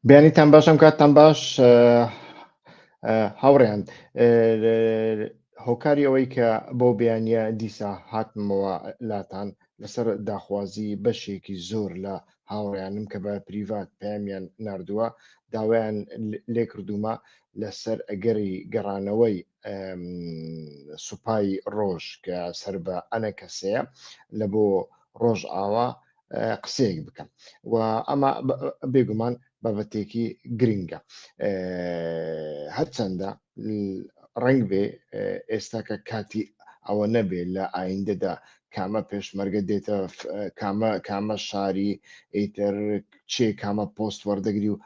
بیانیتان باشم کاتتان باش هاوڕێیان هۆکاری ئەوەی کە بۆ بیانە دیسا هاتمەوە لاتان لەسەر داخوازی بەشێکی زۆر لە هاوڕیانم کە بە پریڤات پامیان نردووە داوایان لێکردومە لەسەر ئەگەری گەڕانەوەی سوپای ڕۆژ کە سەر بە ئەنە کەسەیە لە بۆ ڕۆژ ئاوا قسەیەک بکەم و ئەمە بێگومان بابەتێکی گرنگە هەرچەندە ڕنگ بێ ئێستا کە کاتی ئەوە نەبێ لە ئایندەدا کامە پێشمەرگە دێتە کامە کامە شاری ئیتر چێ کامە پۆست وەردەگری و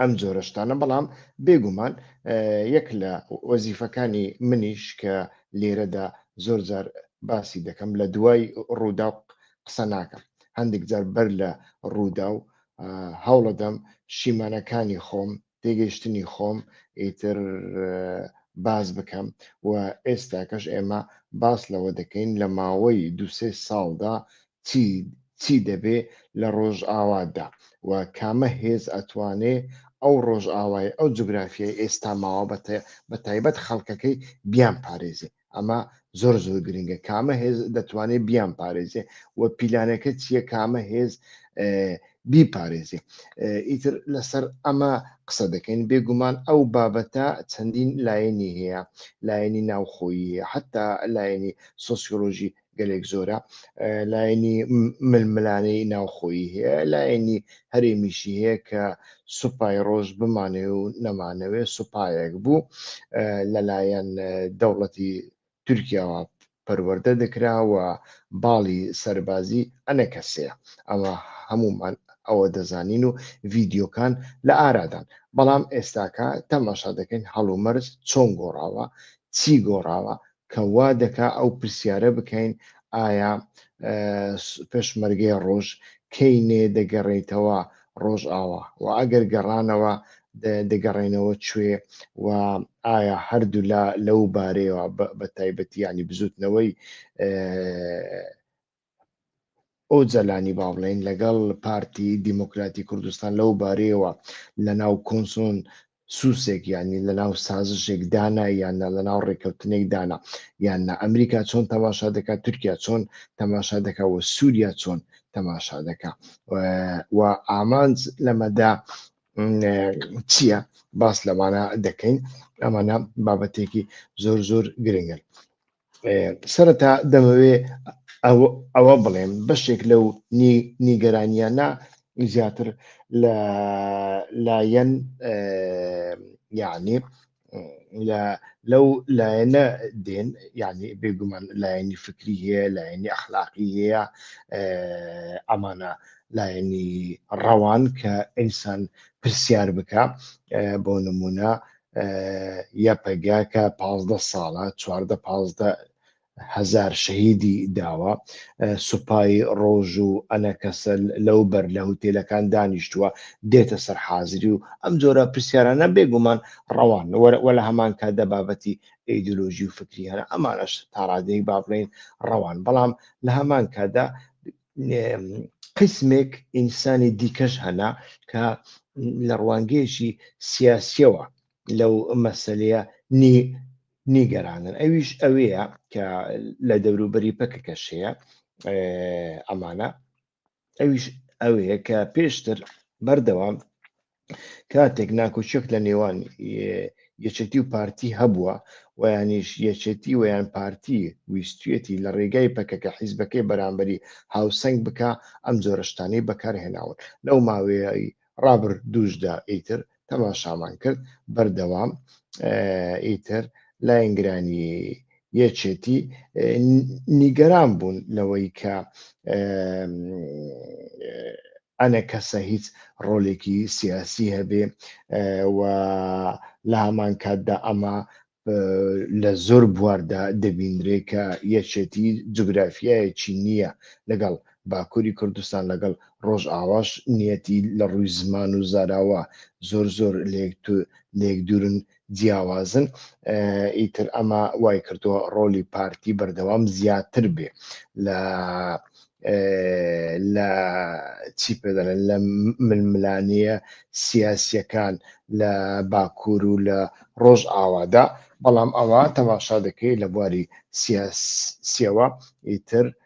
ئەم جۆرە شتانە بەڵام بێگومان یەک لە وەزیفەکانی منیش کە لێرەدا زۆر جار باسی دەکەم لە دوای ڕوودا قسە ناکەم هەندێک جار بەر لە ڕوودا و هەوڵەدەم شیمانەکانی خۆم تێگەیشتنی خۆم ئیتر باز بکەم و ئێستاکەش ئێمە باس لەوە دەکەین لە ماوەی دوسێ ساڵدا چی چی دەبێ لە ڕۆژئاوادا و کامە هێز ئەتوانێ ئەو ڕۆژئاوای ئەو جوگرافیای ئێستا ماوە بە تایبەت خەڵکەکەی بیان پارێزێ ئەمە زۆر زۆر گرنگە کامە هێز دەتوانێ بیان پارێزێ و پیلانەکە چییە کامە هێز بیپارێزێ ئیتر لەسەر ئەمە قسە دەکەین بێگومان ئەو بابەتە چەندین لایەنی هەیە لایەنی ناوخۆیی حتا لایەنی سۆسیۆلۆژی گەلێک زۆرە لایەنی ململانەی ناوخۆیی هەیە لایەنی هەرێمیشی هەیە کە سوپای ڕۆژ بمانێ و نەمانەوێ سوپایەک بوو لەلایەن دەوڵەتی تورکیاوە پەروەەردە دەکراوە باڵی سەربازی ئەنە کەسەیە ئەمە هەمومان ئەوە دەزانین و ڤیددیوکان لە ئارادان بەڵام ئێستاکە تەماشا دەکەین هەڵومەرز چۆن گۆڕاوە چی گۆڕاوە کە وا دەکا ئەو پرسیارە بکەین ئایا پێشمەرگەی ڕۆژ کەی نێ دەگەڕێیتەوە ڕۆژئاوا و ئەگەر گەڕانەوە دەگەڕێنەوە کوێ و ئایا هەردوولا لەو بارەیەوە بە تایبەتیانی بزوتنەوەی ئۆجەلانی با بڵێین لەگەڵ پارتی دیموکراتی کوردستان لەو بارەیەوە لە ناو کۆنسۆن سوسێک یانی لە ناو سازشێک دانا یاننا لە ناو ڕێککەوتنێک دانا یاننا ئەمریکا چۆن تەماشا دەکات تورکیا چۆن تەماشا دەکا و سووریا چۆن تەماشا دەکا و ئامانج لەمەدا چییە باس لەمانە دەکەین ئەمانە بابەتێکی زۆر زۆر گرنگن سەرەتا دەمەوێ ئەوە بڵێم بەشێک لەو نیگەرانیانە زیاتر لە لایەن یعنی لەو لایەنە دێن یعنی بێگومان لایەنی فکری هەیە لایەنی ئەخلاقی هەیە ئەمانە لایەنی ڕەوان کە ئینسان پرسیار بکە بۆ نمونە یەپەگە کە پازدە ساڵە چواردە پازدە هەزار شەهیدی داوە سوپای ڕۆژ و ئەنەکەسە لەو بەر لە هوتێلەکان دانیشتووە دێتە سەر حازری و ئەم جۆرە پرسیارانە بێگومان ڕەوان وە لە هەمان کاتدا بابەتی ئیدولۆژی و فکری هەر ئەمانش تاڕادەیەک با بڵین ڕەوان بەڵام لە هەمان کاتدا قسمێک ئینسانی دیکەش هەنا کە لە ڕوانگەیەکی سیاسیەوە لەو مەسلەیە نیگەرانن ئەویش ئەوەیە کە لە دەوروبەری پەکەکەش هەیە ئەمانە ئەویش ئەوەیە کە پێشتر بەردەوام کاتێک ناکۆچێک لە نێوان یەچەتی و پارتی هەبووە ویانیش یەچەتی ویان پارتی ویستێتی لە ڕێگای پەکەکە حیزبەکەی بەرامبەری هاوسنگ بک ئەم جۆرەشتانی بەکارهێناون لەو ماوەیەی ڕابر دووشدا ئیتر تەماشامان کرد بەردەوام ئیتر لاینگرانی یەچێتی نیگەران بوون لەوەی کە ئەنەکەسە هیچ ڕۆلێکی سیاسی هەبێ و لە هەمان کاتدا ئەمە لە زۆر بواردا دەبینرێ کە یەکێتی جوگرافیایەکی نییە لەگەڵ باکووری کوردستان لەگەڵ ڕۆژ ئاواش نیەتی لە ڕووی زمان و زاراوە زۆر زۆر لێک دوورن جیاوازن ئیتر ئەمە وای کردووە ڕۆلی پارتی بەردەوام زیاتر بێ لە لە چی پێدەڵێن لە ململانیە سیاسیەکان لە باکوور و لە ڕۆژ ئاوادا بەڵام ئەوە تەماشا دەکەی لە بواری سیاسیەوە ئیتر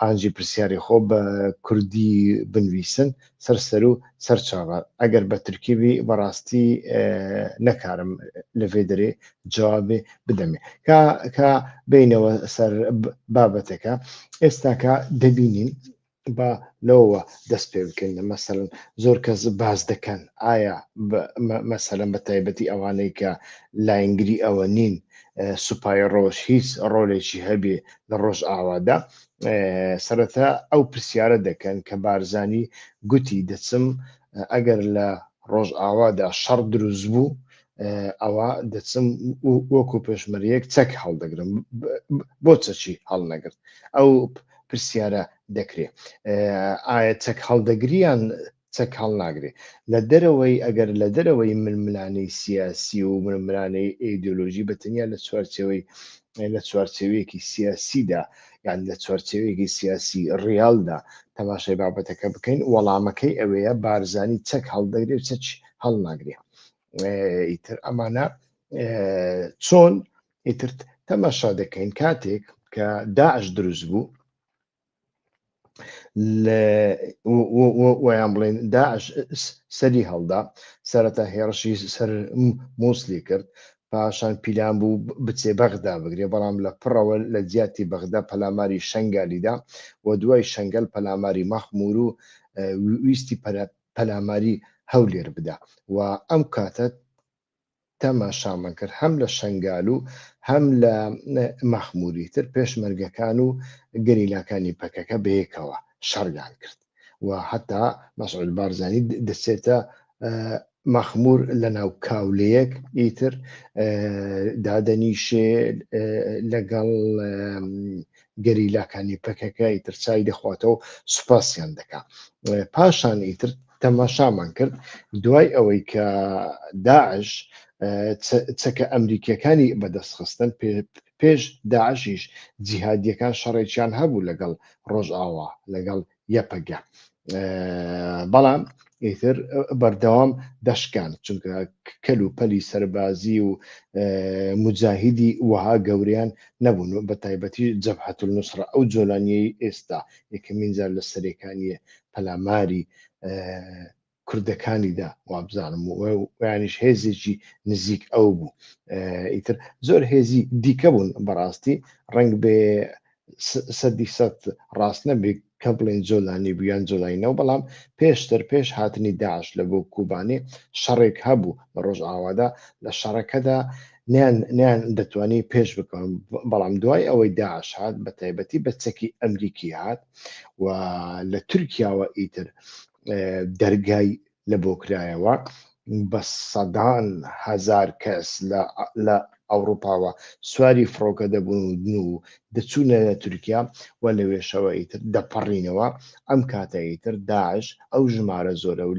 ئانجی پرسیاری خۆ بە کوردی بنویسن سەر سەرو سەر چاوە ئەگەر بە ترکیبی بەڕاستی نەکارم لەێ دەێ جوابێ بدەمێ کە بینەوە سەر بابەتەکە ئێستاکە دەبینین با لەوە دەست پێ بکەین لە مەسەرن زۆر کەس باز دەکەن ئایا مەسەرم بە تایبەتی ئەوانەی کە لاینگری ئەوە نین سوپای ڕۆژ هیچ ڕۆلێکی هەبێ لە ڕۆژئاوادا سەرەتا ئەو پرسیارە دەکەن کە بارزانی گوتی دەچم ئەگەر لە ڕۆژئاوادا شەڕ دروست بوو ئەوە دەچم وەکو پێشمەریەک چەک هەڵدەگرم بۆ چەچی هەڵنەگرت ئەو پرسیارە دەکرێت ئایا چەک هەڵدەگریان چەک هەڵناگرێ لە دەرەوەی، ئەگەر لە دەرەوەی ململانێی سیاسی و ململانێی ئەیدۆلۆژی بە تەنیا لە چوارچێوەی لە چوارچێوەیەکی سیاسیدا یان لە چوارچێوەیەکی سیاسی ڕیالدا تەماشای بابەتەکە بکەین وەڵامەکەی ئەوەیە بارزانی چەک هەڵدەگرێ و چەک هەڵناگرێ ئیتر ئەمانە چۆن ئیتر تەماشا دەکەین کاتێک کە داعش دروست بوو ویان بڵێن داعش سەری هەڵدا سەرەتا هێڕشی سەر مووسلی کرد پاشان پیلان بوو بچێ بەغدا بگرێ بەڵام لە پڕەوە لە جیاتی بەغدا پەلاماری شنگالیدا و دوای شنگل پەلاماری مەخمور و ویستی پەلاماری هەولێر بدا و ئەم کاتە تەماشامان کرد هەم لە شەنگال و هەم لە مەخموری تر پێشمەرگەکان و گەریلاکانی پەکەکە بەیەکەوە شەڕیان کرد و هەتا مەسعود بارزانی دەچێتە مەخمور لە ناو کاولەیەک ئیتر دادەنیشێ لەگەڵ گەریلاکانی پەکەکە ئیتر چای دەخواتەوەو سوپاسیان دەکا پاشان ئیتر تەماشامان کرد دوای ئەوەی کە داعش چەکە ئەمریکیەکانی بەدەست خستن پێش داعشیش جیهادیەکان شەڕێکیان هەبوو لەگەڵ ڕۆژئاوا لەگەڵ یەپەگە بەڵام ئیتر بەردەوام دەشکان چونکە کەل و پەلی سەربازی و مجاهیدی وەها گەوریان نەبوون بە تایبەتی جەبهەت نووسڕ ئەو جۆلانیەی ئێستا یەکەمین جار لە سەرێکانیە پەلاماری کوردەکانیدا وابزانم ویانیش هێزێکی نزیک ئەو بوو ئیتر زۆر هێزی دیکە بوون بەڕاستی ڕنگ بێ سەدی سەد ڕاست نەبێت کە بڵێن جۆلانی بیان جۆلاینەوە بەڵام پێشتر پێش هاتنی داعش لە بۆ کوبانی شەڕێک هەبوو لە ڕۆژئاوادا لە شەڕەکەدا نیان نیان دەتوانی پێش بکەم بەڵام دوای ئەوەی داعش هات بە تایبەتی بە چەکی ئەمریکی هات و لە تورکیاوە ئیتر دەرگای لە بۆ کرایەوە بە سەدان هزار کەس لە ئەوروپاوە سواری فڕۆکە دەبوون و دەچوونە لە تورکیا و لە وێشەوە ئیتر دەپەڕینەوە ئەم کاتە ئیتر داعش ئەو ژمارە زۆرە و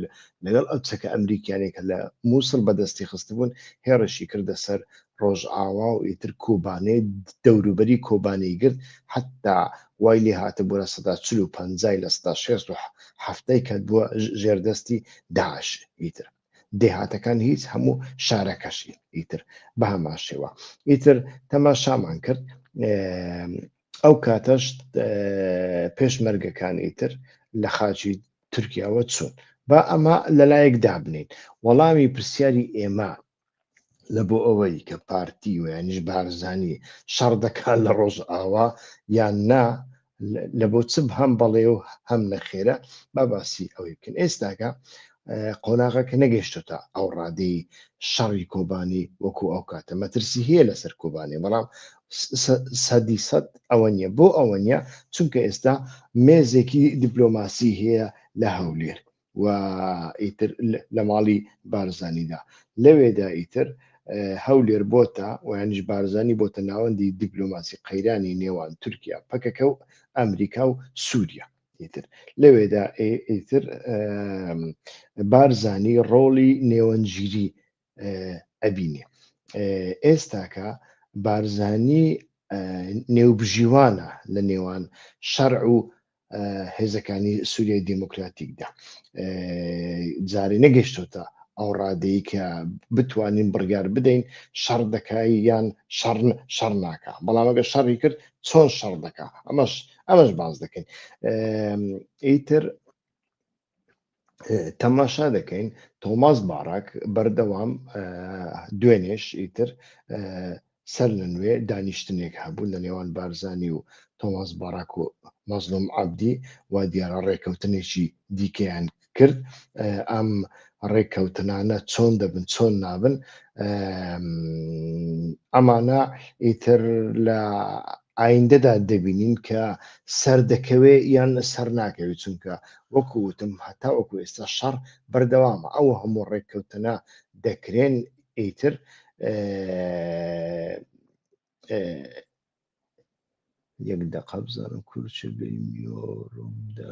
لەگەڵ ئەو چەکە ئەمریکیانێکە لە مووسڵ بەدەستی خستبوون هێڕشی کردە سەر ڕۆژئاوا و ئیتر کۆبانێ دەوروبەری کۆبانێی گرت حەتتا وای لێ هاتبوو لە سەدا چل و پەنجای لە سەدا شێست و حەفتای کەتبووە ژێر دەستی داعش ئیتر دێهاتەکان هیچ هەموو شارەکەشی ئیتر بە هەمان شێوە ئیتر تەماشامان کرد ئەو کاتەش پێشمەرگەکان ئیتر لە خاچی تورکیاوە چوون با ئەمە لەلایەک دابنین وەڵامی پرسیاری ئێمە لە بۆ ئەوەی کە پارتی ویانش بارزانانی شەڕ دەکات لە ڕۆژ ئاوا یان نا لە بۆ چ هەم بەڵێ و هەم نەخێرە با باسی ئەوەی بکەن ئێستاکە قۆناغە کە نەگەشتە تا ئەو ڕادەی شەڕی کۆبانی وەکو ئەو کاتە مەترسی هەیە لەسەر کۆبانی بەڵام سەدی سەد ئەوە نیە بۆ ئەوە نیە چونکە ئێستا مێزێکی دیپلۆماسی هەیە لە هەولێر و ئیتر لە ماڵی بارزانیدا لەوێدا ئیتر هەولێر بۆتە ویانش بارزانی بۆتە ناوەندی دیبلۆماسی قەیرانی نێوان تورکیا پەکەکە و ئەمریکا و سووریا ئیتر لەوێدا ئیتر بارزانی ڕۆڵی نێوەنگیری ئەبینێ ئێستاکە بارزانی نێوبژیوانە لە نێوان شەرع و هێزەکانی سووریای دیموکراتیکدا جارێ نەگەشتوتە ئەو ڕادەیە کە بتوانین بڕگار بدەین شەڕ دەکای یان شەڕ شەڕ ناکە بەڵامەگە شەڕی کرد چۆن شەڕ دەکە ئەمەش ئەمەش باز دەکەین ئیتر تەماشا دەکەین تۆماس باڕاک بەردەوام دوێنێش ئیتر سەر لە نوێ دانیشتنێک هەبوو لە نێوان بارزانانی و تۆماس باراک و مەزلوم عبدی و دیارە ڕێککەوتنێکی دیکەیان کرد ئەم ڕێککەوتنانە چۆن دەبن چۆن نابن ئەمانە ئیتر لە ئایندەدا دەبینین کە سەردەکەوێ یان سەرناکەوێ، چونکە وەکو وتم هەتاوەکو ئێستا شەڕ بەردەوامە، ئەو هەموو ڕێککەوتنە دەکرێن ئیتر یەک دەقە بزانم کورچە بێمیۆرمدا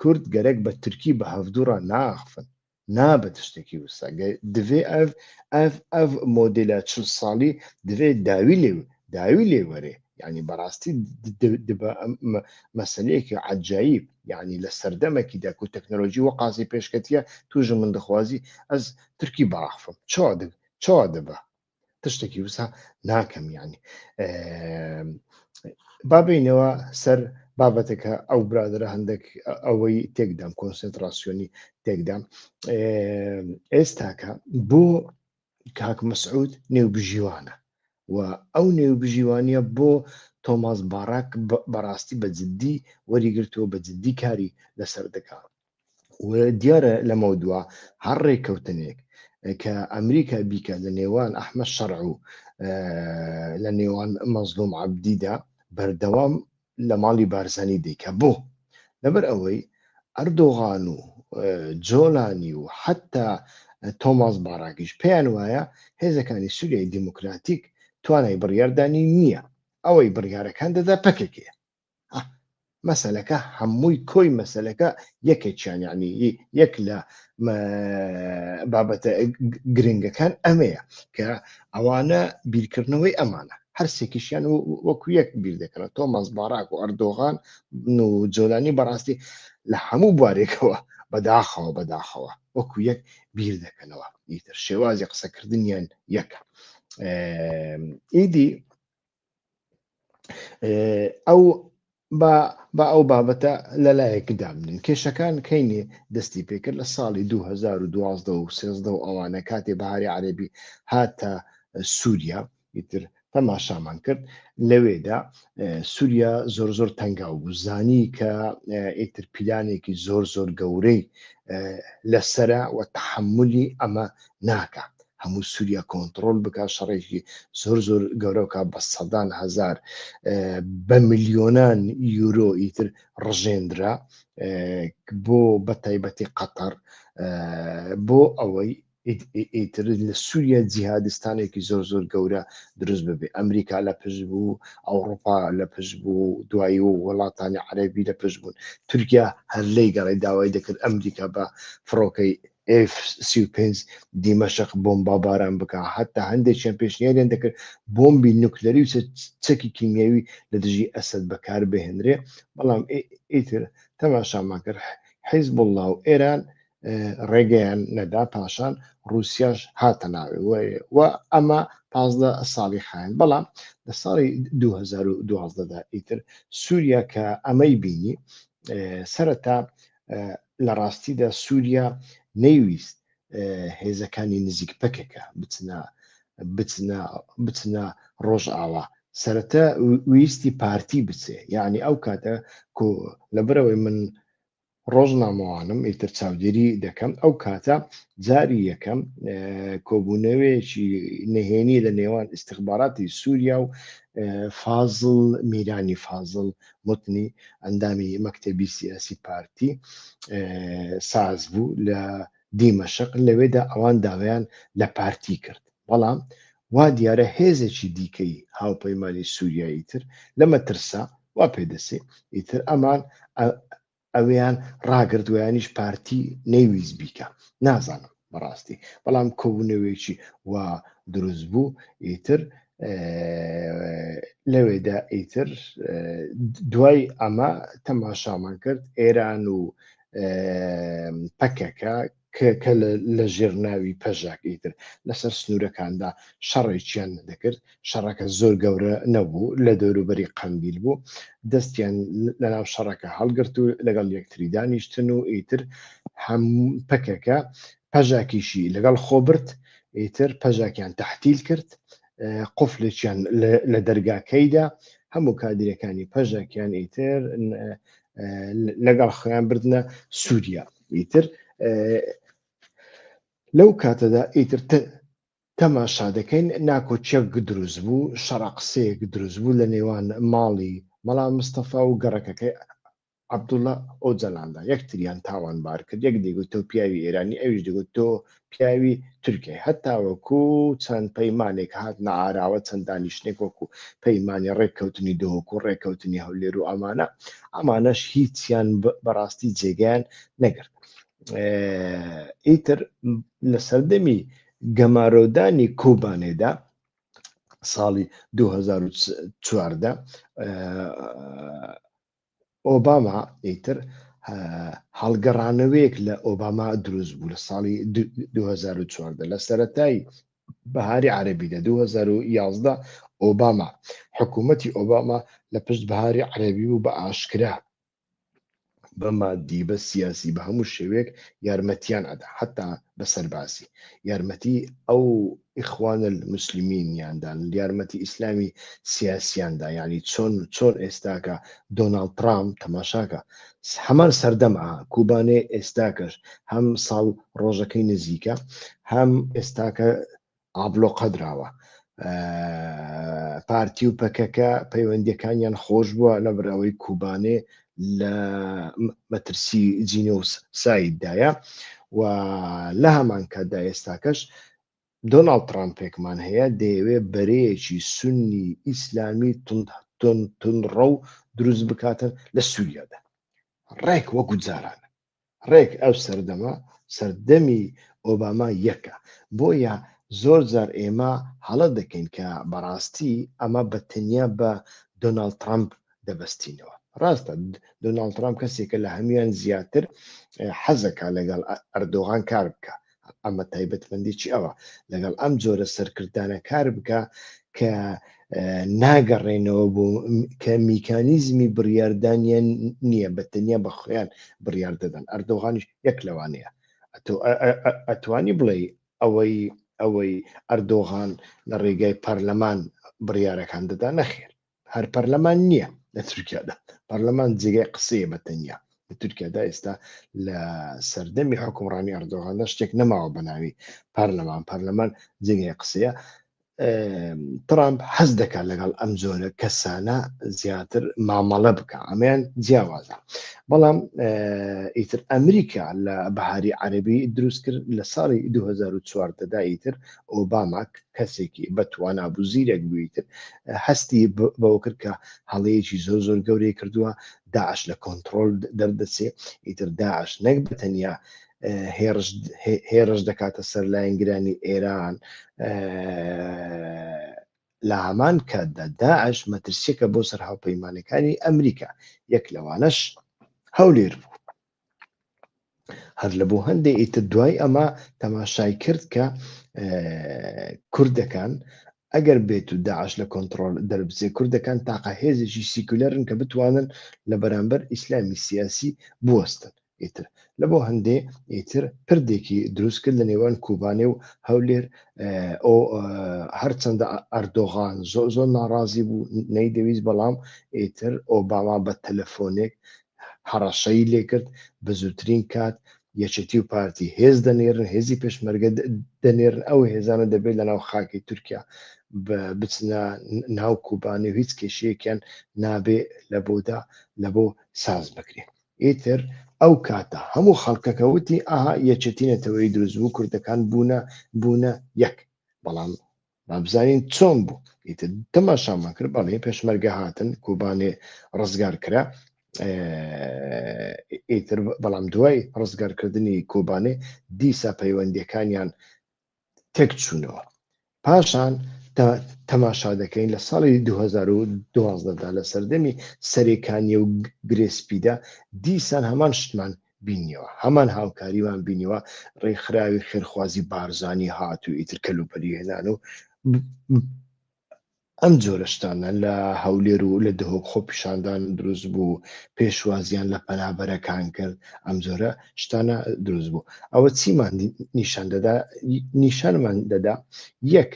کورد گەرەک بە ترکی بە هەڤدوو ڕا ناخفن نابت شتەکی وسا گە دڤێ ئەڤ ئەڤ ئەڤ مۆدێلا چل ساڵی دڤێ داوی لێ داوی لێ وەرێ یانی بەڕاستی دە دبە مە مەسەلەیەکی عەجایب یانی لە سەردەمەکی دا کو تەکنەلۆژی وە قازی پێشکەتیە تووژ من دخوازی ئەز ترکی بڕاخفم چۆ دگ چۆ دبە تشتێکی وسا ناکەم یعنی بابینەوە سەر بابەتەکە ئەو برادرە هەندێک ئەوەی تێکدام کۆنسنتراسیۆنی تێکدام ئێستاکە بۆ کاک مەسعود نێوبژیوانە و ئەو نێوبژیوانە بۆ تۆماس باراک بەڕاستی بە جددی وەریگرتووە بە جددی کاری لەسەر دەکات دیارە لەمەو دوا هەر ڕێککەوتنێک کە ئەمریکا بیکە لە نێوان ئەحمە شەڕ و لە نێوان مەزلوم عبدیدا بەردەوام لە ماڵی بارزانی دیکە بۆ لەبەر ئەوەی ئەردۆغان و جۆلانی و حتا تۆماس باراگیش پێیان وایە هێزەکانی سووریای دیموکراتیک توانای بڕیاردانی نییە ئەوەی بڕیارەکان دەدا پەکەکەیە مەسەلەکە هەمووی کۆی مەسەلەکە یەکێکیان یعنی یەک لە بابەتە گرنگەکان ئەمەیە کە ئەوانە بیرکردنەوەی ئەمانە هەرسێکیشیان وەکو یەک بیر دەکەن تۆ مەزباراک و ئەردۆغان و جۆلانی بەڕاستی لە هەموو بوارێکەوە بەداخەوە بەداخەوە وەکو یەک بیر دەکەنەوە ئیتر شێوازی قسەکردنیان یەکە ئیدی ئەو با ئەو بابەتە لە لایەک دابنین کێشەکان کەینێ دەستی پێکرد لە ساڵی 2012 و سێزدە و ئەوانە کاتێ بەهاری عەربی هاتە سووریا ئیتر تەماشامان کرد لەوێدا سووریا زۆر زۆر تەنگا و زانی کە ئیتر پیلانێکی زۆر زۆر گەورەی لەسرە و تحملی ئەمە ناکە هەموو سوریا کۆنتڕۆل بکات شەڕێکی زۆر زۆر گەورەکە بە سەدان هزار بە ملیۆنان یورۆ ئیتر ڕژێنرا بۆ بە تایبەتی قەتەر بۆ ئەوەی ئیتر لە سووریا جیهادستانێکی زۆر زۆر گەورە دروست ببێ ئەمریکا لە پشت بوو ئەوروپا لە پشت بوو دوایی و وڵاتانی عەربی لە پشت بوون تورکیا هەر لی گەڕی داوای دەکرد ئەمریکا بە فڕۆکەی ئێف سی و پێنج دیمەشق بۆمباباران بکا، هەتا هەندێکیان پێشنیاریان دەکرد بۆمبی نوکلەری و چەکی کیمیاوی لە دژی ئەسەد بەکاربهێنرێ، بەڵام ئیتر تەماشامان کرد حیزبوڵڵا و ئێران ڕێگەیان نەدا، پاشان ڕووسیاش هاتە ناوێ و ئەمە پازدە ساڵی خایاند، بەڵام لە ساڵی دوو هەزار و دوازدە دا ئیتر سووریا کە ئەمەی بینی سەرەتا لە ڕاستیدا سووریا نەیویست هێزەکانی نزیک پەکەکە بچنە بچنە بچنە ڕۆژئاوا سەرەتا ویستی پارتی بچێ یعنی ئەو کاتە لەبەرەوەی من ڕۆژنامەوانم ئیتر چاودێری دەکەم ئەو کاتە جاری یەکەم کۆبوونەوەیەکی نهێنی لە نێوان ئیسیخباراتی سووریا و فازل میرانی فازل متنی ئەندامی مەکتەبی سیاسی پارتی ساز بوو لە دیمەشق، لەوێدا ئەوان داوایان لە پارتی کرد، بەڵام وا دیارە هێزێکی دیکەی هاوپەیمانی سووریایی تر لە مەترسا وا پێدەچێ ئیتر ئەمان ئەویان ڕاگرت ویانیش پارتی نەیویست بیکا نازانم بەڕاستی بەڵام کۆبوونەوەیەکی وا دروست بوو ئیتر لەوێدا ئیتر دوای ئەمە تەماشامان کرد ئێران و پەکەکە کە لە ژێر ناوی پەژاک ئیتر لەسەر سنوورەکاندا شەڕێکیان دەکرد، شەڕەکە زۆر گەورە نەبوو، لە دەوروبەری قەندیل بوو، دەستیان لەناو شەڕەکە هەڵگرت و لەگەڵ یەکتری دانیشتن و ئیتر پەکەکە پەژاکیشی لەگەڵ خۆ برد، ئیتر پەژاکیان تەحتیل کرد، قفلێکیان لە دەرگاکەیدا، هەموو کادیرەکانی پەژاکیان ئیتر لەگەڵ خۆیان بردنە سووریا. ئیتر لەو کاتەدا ئیتر تەماشا دەکەین ناکۆچەک دروست بوو شەڕە قسەیەک دروست بوو لە نێوان ماڵی مەڵا مستەفا و گەڕەکەکەی عبدوڵە ئەو جەلاندا یەکتریان تاوان بار کرد یەک دەگوت تۆ پیاوی ئێرانی ئەویش دەگوت تۆ پیاوی تورکیای هەتاوەکو چەند پەیمانێک هاتنە ئاراوە چەند دانیشتنێک وەکو پەیمانی ڕێککەوتنی دهۆک و ڕێککەوتنی هەولێر و ئەمانە ئەمانەش هیچیان بەڕاستی جێگەیان نەگرت ئیتر لە سەردەمی گەمارۆدانی کۆبانێدا ساڵی 2014 ئۆباما ئیتر هەڵگەڕانەوەیەک لە ئۆباما دروست بوو لە ساڵی 2014 لە سەتای بەهاری عربی لە 2011 ئۆباما حکوومەتی ئۆباما لە پشت بەهاری عربی بوو بە ئاشکرا بە مادی بە سیاسی بە هەموو شێوێک یارمەتیان ئەدا حتا بە سەربازی یارمەتی ئەو ئیخوان المسلمین یان دان یارمەتی ئیسلامی سیاسیان دا یانی چۆن چۆن ئێستاکە دۆناڵد ترامپ تەماشاکە هەمان سەردەم ئا کوبانێ ئێستاکەش هەم ساڵ ڕۆژەکەی نزیکە هەم ئێستاکە ئابلۆ قەدراوە پارتی و پەکەکە پەیوەندەکانیان خۆش بووە لەبرەوەی کوبانێ لە مەترسی جینۆس سایددایە و لە هەمان کاتدا ئێستاکەش دۆناڵد ترامپێکمان هەیە دەیەوێ بەرەیەکی سنی ئیسلامی تونڕە و دروست بکاتن لە سووریادا ڕێک وەکو جاران ڕێک ئەو سەردەمە سەردەمی ئۆباما یەکە بۆیە زۆر جار ئێمە هەڵە دەکەین کە بەڕاستی ئەمە بە تەنیا بە دۆناڵد ترامپ دەبەستینەوە ڕاستە دۆناڵد ترامپ کەسێکە لە هەمویان زیاتر حەزەکە لەگەڵ ئەردۆغان کار بکە ئەمە تایبەتمەندی چی ئەوە لەگەڵ ئەم جۆرە سەرکردانە کار بکە کە ناگەڕێنەوە بۆ کە میکانیزمی بڕاردانیان نییە بە تەنیا بە خۆیان بڕیار دەدەن ئەردۆغانیش یەک لەوانەیە ئەتوانی بڵێ ئەوەی ئەوەی ئەردۆغان لە ڕێگای پەرلەمان بڕیارەکان دەدا نەخێر هەر پەرلەمان نییە لە تورکیادا پەرلەمان جێگای قسەیە بە تەنیا لە تورکیادا ئێستا لە سەردەمی حکومڕانی ئەردۆغاندا شتێک نەماوە بە ناوی پەرلەمان پەرلەمان جێگای قسەیە ترامپ حەز دەکات لەگەڵ ئەم جۆرە کەسانە زیاتر مامەڵە بکە ئەمەیان جیاوازە بەڵام ئیتر ئەمریکا لە بەهاری عەربی دروست کرد لە ساڵی 2014دا ئیتر ئۆباما کەسێکی بە توانا بوو زیرەک بووی تر هەستی بەوە کرد کە هەڵەیەکی زۆر زۆر گەورەی کردووە داعش لە کۆنتترۆل دەردەچێ ئیتر داعش نەک بە تەنیا هێرش دەکاتە سەر لایەنگرانی ئێران لە هەمان کاتدا داعش مەترسیەکە بۆ سەر هاوپەیمانەکانی ئەمریکا یەک لەوانەش هەولێر بوو هەر لە بۆ هەندێ ئیتر دوای ئەمە تەماشای کرد کە کوردەکان ئەگەر بێت و داعش لە کۆنتترۆل دەربچێ کوردەکان تاقە هێزێکی سیکولەرن کە بتوانن لە بەرامبەر ئیسلامی سیاسی بوەستن ئیتر لە بۆ هەندێ ئیتر پردێکی دروست کرد لە نێوان کوبانێ و هەولێر ئەو هەرچەندە ئەردۆغان زۆ زۆر ناڕازی بوو نەیدەویست بەڵام ئیتر ئۆباما بە تەلەفۆنێک هەڕەشەی لێکرد بەزووترین کات یەکێتی و پارتی هێز دەنێرن هێزی پێشمەرگە دەنێرن ئەو هێزانە دەبێت لەناو خاکی تورکیا بچنە ناو کوبانی و هیچ کێشەیەکیان نابێ لە بۆدا لە بۆ ساز بکرێت ئیتر ئەو کاتە هەموو خەڵکەکەوتی ئاها یەکێتی نەتەوەی دروست بوو کوردەکان بوونە بوونە یەک بەڵام با بزانین چۆن بوو ئیتر تەماشامان کرد بەڵێ پێشمەرگە هاتن کوبانێ ڕزگار کرا ئیتر بەڵام دوای ڕزگارکردنی کۆبانێ دیسا پەیوەندیەکانیان تێک چوونەوە پاشان تەماشا دەکەین لە ساڵی 2012دا لە سەردەمی سەرێکانی و گرێسپیدا دیسان هەمان شتمان بینیەوە هەمان هاوکاریمان بینیوە ڕێکخراوی خێرخوازی بارزانی هات و ئیتر کەلوپەلی هێنان و ئەم جۆرەشتانە لە هەولێر و لە دهۆک خۆ پیشاندان دروست بوو پێشوازیان لە پەنابەرەکان کرد ئەم جۆرە شتانە دروست بوو ئەوە چیمان نیشان دەدا نیشانمان دەدا یەک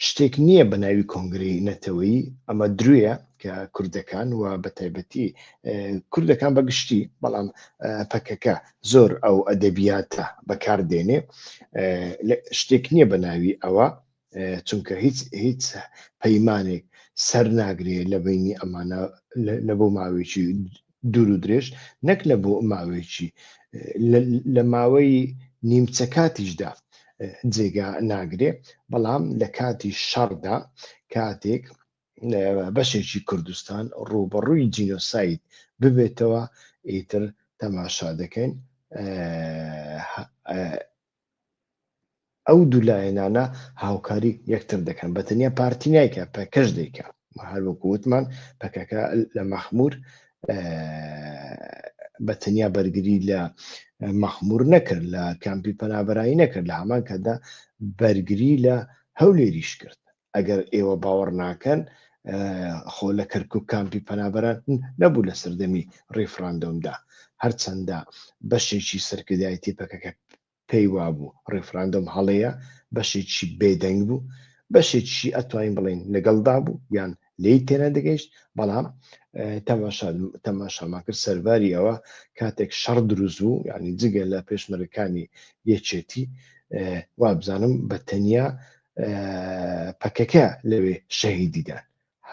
شتێک نییە بە ناوی کۆنگرەی نەتەوەیی، ئەمە درویە کە کوردەکان و بە تایبەتی کوردەکان بە گشتی بەڵام پەکەکە زۆر ئەو ئەدەبیاتە بەکار دێنێ شتێک نییە بە ناوی ئەوە چونکە هیچ هیچ پەیمانێک سەر ناگرێت لە بینی ئەمانە لە بۆ ماوەیەکی دوور و درێژ نەک لە بۆ ماوەیەکی لە ماوەی نیمچە کاتیشدا جێگا ناگرێ بەڵام لە کاتی شەڕدا کاتێک بەشێکی کوردستان ڕوبەڕووی جینۆسایت ببێتەوە ئیتر تەماشا دەکەین ئەو دوو لایەنانە هاوکاری یەکتر دەکەن بە تەنیا پارتی نایکا پەکەش دەیکا هەر وەکو وتمان پەکەکە لە مەخمور بە تەنیا بەرگری لە مەخمور نەکرد لە کامپی پەنابەرایی نەکرد لە هەمان کاتدا بەرگری لە هەولێریش کرد ئەگەر ئێوە باوەڕ ناکەن خۆ لە کەرکک کامپی پەنابەران نەبوو لە سەردەمی ڕیفراندۆمدا هەرچەندە بەشێکی سەرکردایەتی پەکەکە پێی وابوو ڕیفراندۆم هەڵەیە بەشێکی بێدەنگ بوو بەشێکی ئەتوانین بڵین لەگەڵدا بوو یان لی تێنە دەگەیشت بەڵام تەماشامان کرد سەرباری ئەوە کاتێک شەڕ دروست بوو ینی جگە لە پێشمەرەکانی یەکێتی وابزانم بە تەنیا پەکەکە لەوێ شەهیدی دان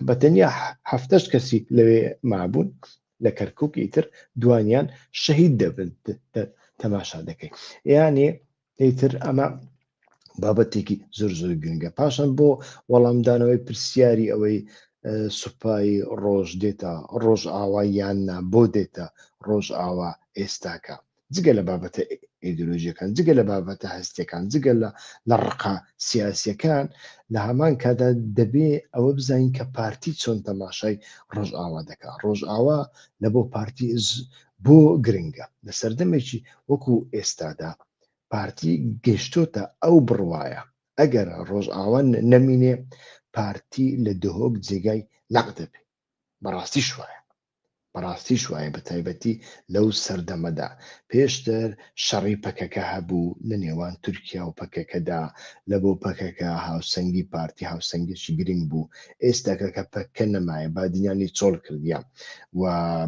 بە تەنیا هەفتەش کەسی لەوێ مابوون لە کەرکک ئیتر دوانیان شەهید دەبن تەماشا دەکەین یانێ ئیتر ئەمە بابەتێکی زۆر زۆر گرنگە پاشان بۆ وەڵامدانەوەی پرسیاری ئەوەی سوپایی ڕۆژ دێتە ڕۆژ ئاوا یان نا بۆ دێتە ڕۆژ ئاوا ئێستاکە جگە لە بابەتە ئیدۆلۆژیەکان جگە لە بابەتە هەستەکان جگە لە لە ڕقا سیاسەکان لە هەمان کادا دەبێ ئەوە بزانین کە پارتی چۆن تەماشای ڕۆژئاوا دەکات ڕۆژئاوا لە بۆ پارتی بۆ گرنگە لە سەردەمێکی وەکو ئێستادا پارتی گەشتۆتە ئەو بڕواایە ئەگەر ڕۆژئاوان نەمینێ پارتی لە دهۆک جێگای لەق دەبێت بەڕاستی شوایە بەڕاستی شوایە بە تایبەتی لەو سەردەمەدا پێشتر شەڕی پەکەکە هەبوو لە نێوان تورکیا و پەکەکەدا لە بۆ پەکەکە هاوسەنگی پارتی هاوسەنگێکی گرنگ بوو ئێستاکە کە پەکە نەمایە بادینانی چۆڵ کردیان و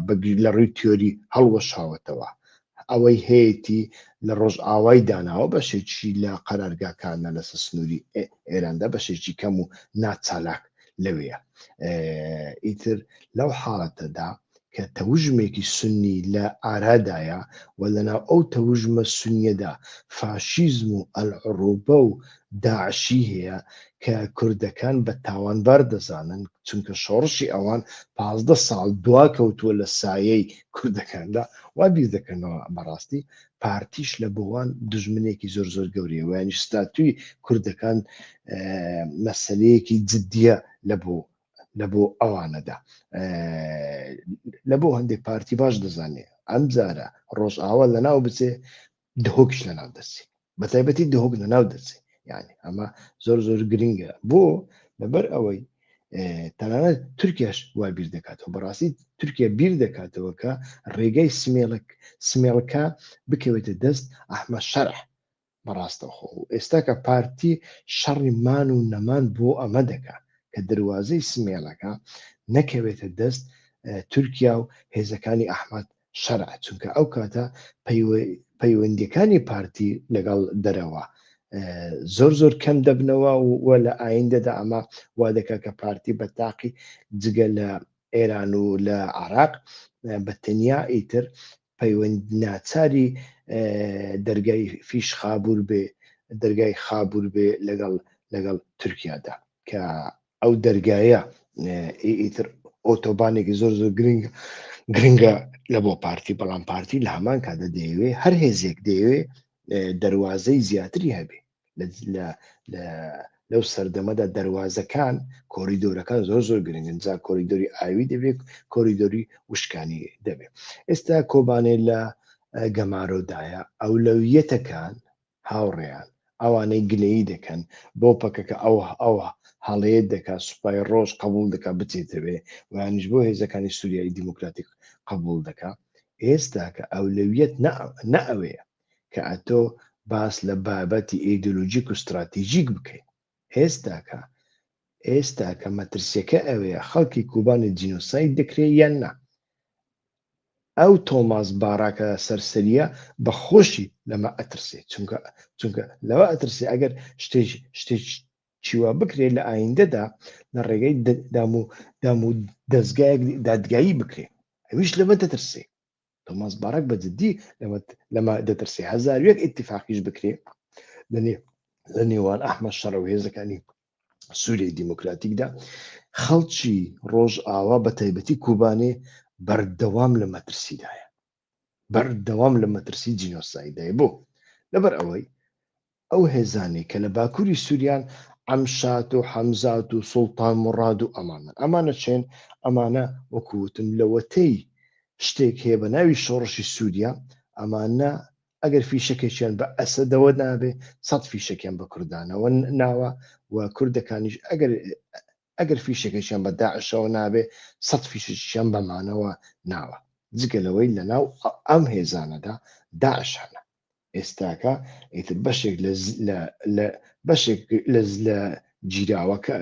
بەگیر لە ڕووی تیۆری هەڵوەشاوەتەوە هه ئەوەی هەیەتی لە ڕۆژئاوای داناوە بەشێکی لە قەرارگاکانە لەسەر سنووری ئێ ئێراندا بەشێکی کەم و ناچالاک لەوێیە ئیتر لەو حاڵەتەدا کە تەوژمێکی سنی لە ئارادایە و لەناو ئەو تەوژمە سنیەدا فاشیزم و ئەلعڕوبە و داعشی هەیە کە کوردەکان بە تاوانبار دەزانن چونکە شۆڕشی ئەوان پازدە ساڵ دوا کەوتووە لە سایەی کوردەکاندا وا بیر دەکەنەوە بەڕاستی پارتیش لە بۆوان دژمنێکی زۆر زۆر گەورەیە ویانیش ستاتوی کوردەکان مەسلەیەکی جددیە لە بۆ لە بۆ ئەوانەدا لە بۆ هەندێک پارتی باش دەزانێ ئەم جارە ڕۆژئاوا لە ناو بچێ دهۆکش لە ناو دەچی بە تایبەتی دهۆک لە ناو دەچی یعنی ئەمە زۆر زۆر گرنگە بۆ لەبەر ئەوەی تەنانەت تورکیاش وای بیر دەکاتەوە بەڕاستی تورکیا بیر دەکاتەوە کە ڕێگەی سمێڵک سمێڵکە بکەوێتە دەست ئەحمە شەرح بەڕاستەخۆ و ئێستاکە پارتی شەڕی مان و نەمان بۆ ئەمە دەکات کە دەواازەی سمێڵەکە نەکەوێتە دەست تورکیا و هێزەکانی ئەحمد شەرع چونکە ئەو کاتە پەیوەندیەکانی پارتی لەگەڵ دەرەوە زۆر زۆر کەم دەبنەوە و لە ئایندەدا ئەمە وا دەکات کە پارتی بە تاقی جگە لە ئێران و لە عراق بە تەنیا ئیتر پەیوەند ناچاری دەرگای فیش خابور بێ دەرگای خابور بێ لەگەڵ لەگەڵ تورکیادا کە ئەو دەرگایە ئیتر ئۆتۆبانێکی زۆر زۆر گرنگ گرنگە لە بۆ پارتی بەڵام پارتی لە هەمان کاتە دەیەوێ هەر هێزێک دەیەوێ دەواازەی زیاتری هەبێ لەو سەردەمەدا دەواازەکان کۆریدۆرەکان زۆر زۆر گرنگن جا کۆریدۆری ئاوی دەبێت کۆریدۆری وشکانی دەبێت ئێستا کۆبانێ لە گەمارۆدایە ئەولەویەتەکان هاوڕێیان ئەوانەی گلەیی دەکەن بۆ پەکەکە ئەو ئەو هەڵەیەت دەکات سوپای ڕۆژ قبوڵ دەکات بچێتەوێ ویانیش بۆ هێزەکانی سوریای دیموکراتیک قبوڵ دەکا ئێستاکە ئەولەویەت نە نە ئەوەیە کە ئەتۆ باس لە بابەتی ئیدۆلۆژیک و ستراتیژیک بکەین ئێستاکە ئێستاکە مەترسیەکە ئەوەیە خەڵکی کوبانی جینۆساید دەکرێت یان نا ئەو تۆماس باراکە سەرسەریە بە خۆشی لەمە ئەترسێ چونکە چونکە لەوە ئەترسێ ئەگەر شتێک شتێک چیوا بکرێت لە ئایندەدا لە ڕێگەی دام و دام و دەستگایەک دادگایی بکرێت ئەویش لەمە دەترسێ تۆماس باراک بە جددی لەمە لەمە دەترسێ هەزار وێک ئیتفاقیش بکرێ لە نێ لە نێوان ئەحمە شەڕە و هێزەکانی سوریای دیموکراتیکدا خەڵکی ڕۆژئاوا بە تایبەتی کوبانێ بەردەوام لە مەترسیدایە بەردەوام لە مەترسی جینۆسایدای بۆ لەبەر ئەوەی ئەو هێزانێک کە لە باکووری سووریان ئەمشات و حەمزات و سوڵتان مڕاد و ئەمانە ئەمانە چێن ئەمانە وەکوتم لەوەتەی شتێک هەیە بە ناوی شۆڕشی سووریا ئەمانە ئەگەر فیشەکێکیان بە ئەسەدەوە نابێ سەد فیشەکیان بە کوردانەوە ناوە و کوردەکانیش ئەگەر ئەگەر فیشەکەشیان بە داعشەوە نابێ سەد فیشەکیان بەمانەوە ناوە جگە لەوەی لە ناو ئەم هێزانەدا داعش هەنە ئێستاکە ئیتر بەشێک لە بەشێک لە گیراوەکە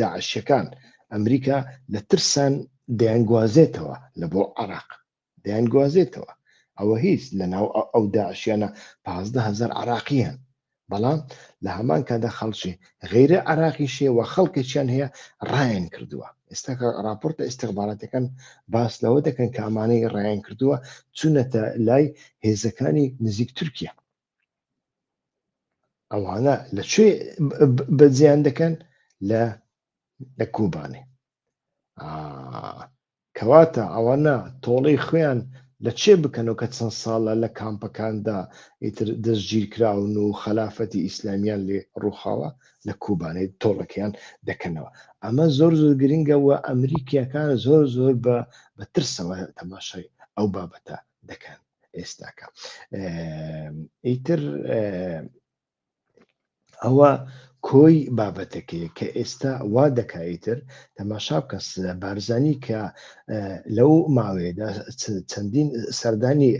داعشەکان ئەمریکا لە ترسان دەیانگوازێتەوە لە بۆ عراق دەیانگوازێتەوە ئەوە هیچ لەناو ئەو داعشیانە پازدە هەزار عراقی هەن بەڵام لە هەمان کادا خەڵکی غیرە عراقی شێ و خەڵکێکیان هەیە ڕایان کردووە ئێستا راپۆرتە ئستیخباراتەکان باس لەوە دەکەن کە ئەمانەی ڕایان کردووە چونەتە لای هێزەکانی نزیک تورکیا ئەوانە لە کوێ بەجیان دەکەن لە لە کوبانێ کەواتە ئەوانە تۆڵەی خۆیان لە چێ بکەن و کە چەند ساڵە لە کامپەکاندا ئیتر دەستگیرکراون و خەلافەتی ئیسلامیان لێ ڕووخاوە لە کوبانەی تۆڵەکەیان دەکەنەوە ئەمە زۆر زۆر گرنگە و ئەمریکیەکان زۆر زۆر بە بە ترسەوە تەماشای ئەو بابەتە دەکەن ئێستاکە ئیتر ئەوە کۆی بابەتەکەی کە ئێستا وا دەکایتر تەماشا بکە بارزانی کە لەو ماوەیەدا چەندین سەردانی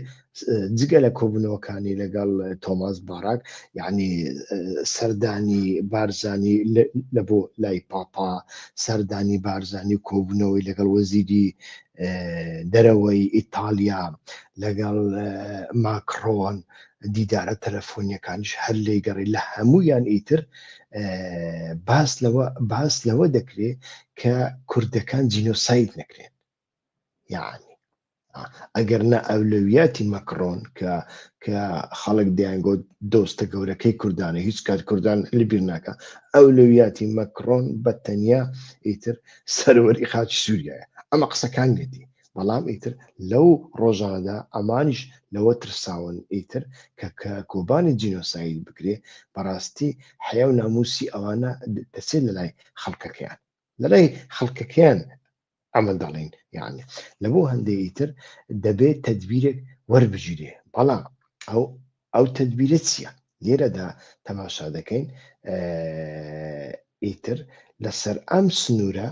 جگە لە کۆبنەوەکانی لەگەڵ تۆماس باراک یعنی سەردانی بارزانی لە بۆ لای پاپا سەردانی بارزانی کۆبنەوەی لەگەڵ وەزیری دەرەوەی ئیتالیا لەگەڵ ماکرۆن دیدارە تەلەفۆنیەکانیش هەر لێی گەڕی لە هەموویان ئیتر باس لەوە باس لەوە دەکرێ کە کوردەکان جینۆسایت نەکرێن یعنی ئەگەر نە ئەولەویاتی مەکڕۆن کە کە خەڵک دەیانگۆ دۆستە گەورەکەی کوردانە هیچ کات کوردان لەبیر ناکە ئەولەویاتی مەکڕۆن بە تەنیا ئیتر سەرەوەری خاچی سووریایە ئەمە قسەکان نێتی بەڵام ئیتر لەو ڕۆژانەدا ئەمانیش لەوە ترساون ئیتر کە کە کۆبانی جینۆساید بکرێ بەڕاستی حەیا و ناموسی ئەوانە دەچێت لەلای خەڵکەکەیان لەلای خەڵکەکەیان ئەمە دەڵێن یعنی لە بۆ هەندێ ئیتر دەبێت تدبیرێک وەربگیرێ بەڵام ئەو ئەو تدبیرە چییە لێرەدا تەماشا دەکەین ئیتر لەسەر ئەم سنوورە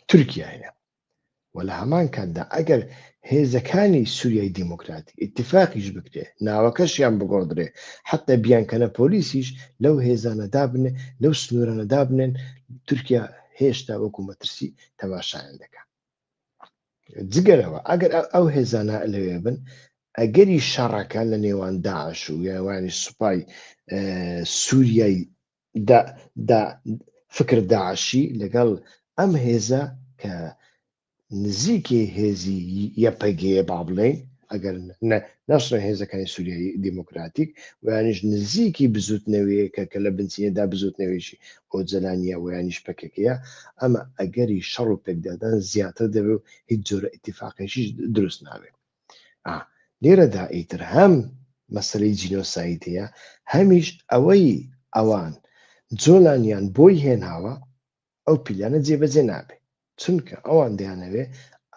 تورکیا هەیە و لە هەمان کاتدا ئەگەر هێزەکانی سوریای دیموکراتی ئیتیفاقیش بکرێ ناوەکەشیان بگۆڕدرێ حەتە بیانکەنە پۆلیسیش لەو هێزانە دابنێ لەو سنوورانە دابنێن تورکیا هێشتا وەکو مەترسی تەماشایان دەکات جگەرەوە ئەگەر ئەو هێزانە لەوێ بن ئەگەری شەڕەکە لە نێوان داعش و یاوانی سوپای سووریای فکر داعشی لەگەڵ ئەم هێزە کە نزیکی هێزی یەپەگەیە با بڵێین ئەگەر نەشرە هێزەکانی سووریایی دیموکراتیک ویانش نزیکی بزوتنەوەیەکە کە لە بنچینەدا بزوتنەوەیشی ئۆجلانیە ویانش پەکەکەیە ئەمە ئەگەری شەڕ و پێکدادان زیاتر دەبێت و هیچ جۆرە ئتیفاقێکیش دروست نابێت ئا لێرەدا ئیتر هەم مەسەلەی جینۆساید هەیە هەمیش ئەوەی ئەوان جۆلانیان بۆی هێناوە ئەو پیلانە جێبەجێ نابێ چونکە ئەوان دەیانەوێ